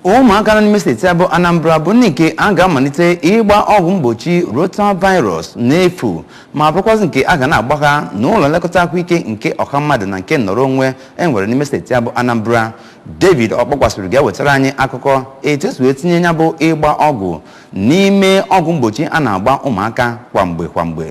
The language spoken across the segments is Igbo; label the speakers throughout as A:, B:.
A: ụmụaka nọ n'ime steeti a bụ anambra bụ ndị nke a ga-amalite ịgba ọgwụ mgbochi rotavirus n'efu ma bụrụkwazị nke a ga na-agba ha n'ụlọ nlekọta ahụike nke ọha mmadụ na nke nnọrọ onwe e nwere n'ime steeti a bụ anambra david ọkpọkwasịrị ga-ewetara anyị akụkọ etu e si wee tinye ya bụ ịgba ọgwụ n'ime ọgwụ mgbochi a na-agba ụmụaka kwa mgbe kwa mgbe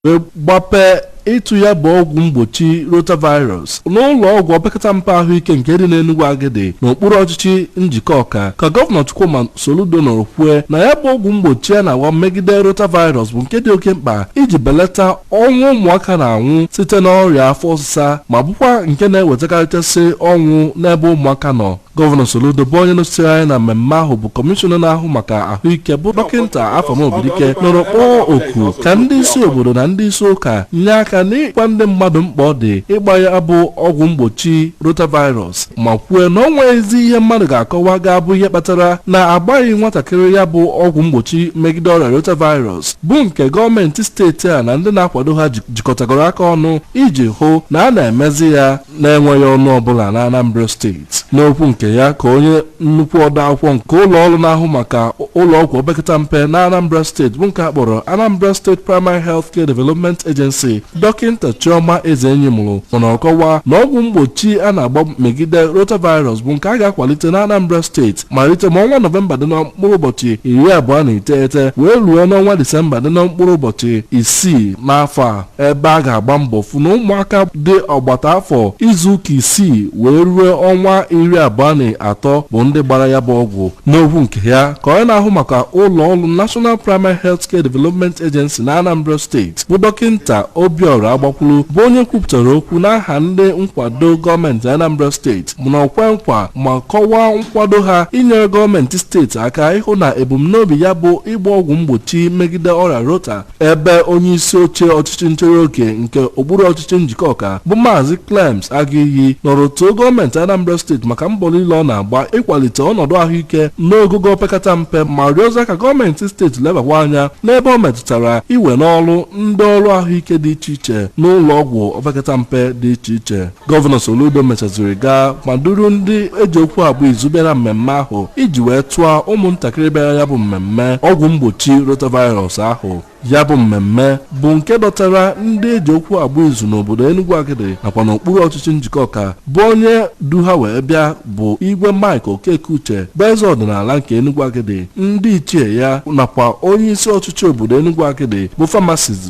B: wee gbapee ịtụ ya bụ ọgwụ mgbochi rotavirus n'ụlọ ọgwụ opekata mpe ahụike nke dị n'Enugwu Agidi n'okpuru ọchịchị Njikọka ka gọvanọ Chukwuma Soludo nọrọ kwue na ya bụ ọgwụ mgbochi a na-agba megide rotavirus bụ nke dị oke mkpa iji belata ọnwụ ụmụaka na-anwụ site n'ọrịa afọ ọsịsa ma bụkwa nke na-ewetakarịchasị ọnwụ n'ebe ụmụaka nọ Gọvanọ Soludo bụ onye nọchitere anya na mmemme ahụ bụ kọmishọna na-ahụ maka ahụike bụ dọkịnta Afam Obidike nọrọ kpọọ oku ka ndị isi obodo na ndị isi ụka nye aka n'ịgwa ndị mmadụ mkpa ọ dị ịgba ya bụ ọgwụ mgbochi rotavirus ma kwue na ọ nweghịzi ihe mmadụ ga-akọwa ga-abụ ihe kpatara na agbaghị nwatakịrị ya bụ ọgwụ mgbochi megide ọrịa rotavirus bụ nke gọọmenti steeti a na ndị na-akwado ha jikọtagoro aka ọnụ iji hụ na a na-emezi ya na-enweghị ọnụ ọbụla na Anambra steeti. N'okwu nke ya ka onye nnukwu odeakwụkwọ nke ụlọọrụ na-ahụ maka ụlọọgwụ opekata mpe na Anambra steeti bụ nke a kpọrọ Anambra State Primary Health Care Development Agency Dọkịnta Chioma Ezenyimụrụ nọ kọwaa na ọgwụ mgbochi a na-agba megide rotavirus bụ nke a ga-akwalite na Anambra steeti malite ma ọnwa Nọvemba dị na mkpụrụ ụbọchị iri abụọ na iteghete wee ruo n'ọnwa Disemba dị na mkpụrụ ụbọchị isii n'afọ a ebe a ga-agba mbọ fụ na ụmụaka dị ọgbata afọ izuụka isii wee ruo ọnwa iri abụọ na atọ bụ ndị gbara ya bụ ọgwụ n'okwu nke ya ka onye na-ahụ maka ụlọ ọrụ National Primary Health Care Development Agency na Anambra steeti bụ dọkịnta Obiora Agbakwuru bụ onye kwupụtara okwu n'aha ndị nkwado gọọmenti Anambra steeti bụ nọ kwe nkwa ma kọwaa nkwado ha inyere gọọmenti steeti aka ịhụ na ebumnobi ya bụ ịgba ọgwụ mgbochi megide ọrịa rota ebe onye isi oche ọchịchị nchere oge nke okpuru ọchịchị Njikọka bụ maazị Clems Agụiyi nọrọ too gọọmenti Anambra steeti maka mbọ niile ọ na-agba ịkwalite ọnọdụ ahụike n'ogogo opekata mpe ma rịọzia ka gọọmenti steeti lebakwa anya n'ebe o metụtara iwe n'ọrụ ndị ọrụ ahụike dị iche iche n'ụlọ ọgwụ opekata mpe dị iche iche Gọvanọ Soludo mechaziri gaa ma duru ndị e ji okwu agba izu bịara mmemme ahụ iji wee tụọ ụmụntakịrị bịara ya bụ mmemme ọgwụ mgbochi rotavirus ahụ ya bụ mmemme bụ nke dọtara ndị e ji okwu agba izu n'obodo Enugwu Agidi nakwa n'okpuru ọchịchị Njikọka bụ onye du ha wee bịa bụ igwe Mike Okekeuche bụ eze ọdịnala nke Enugwu Agidi ndị ichie ya nakwa onye isi ọchịchị obodo Enugwu Agidi bụ Famasis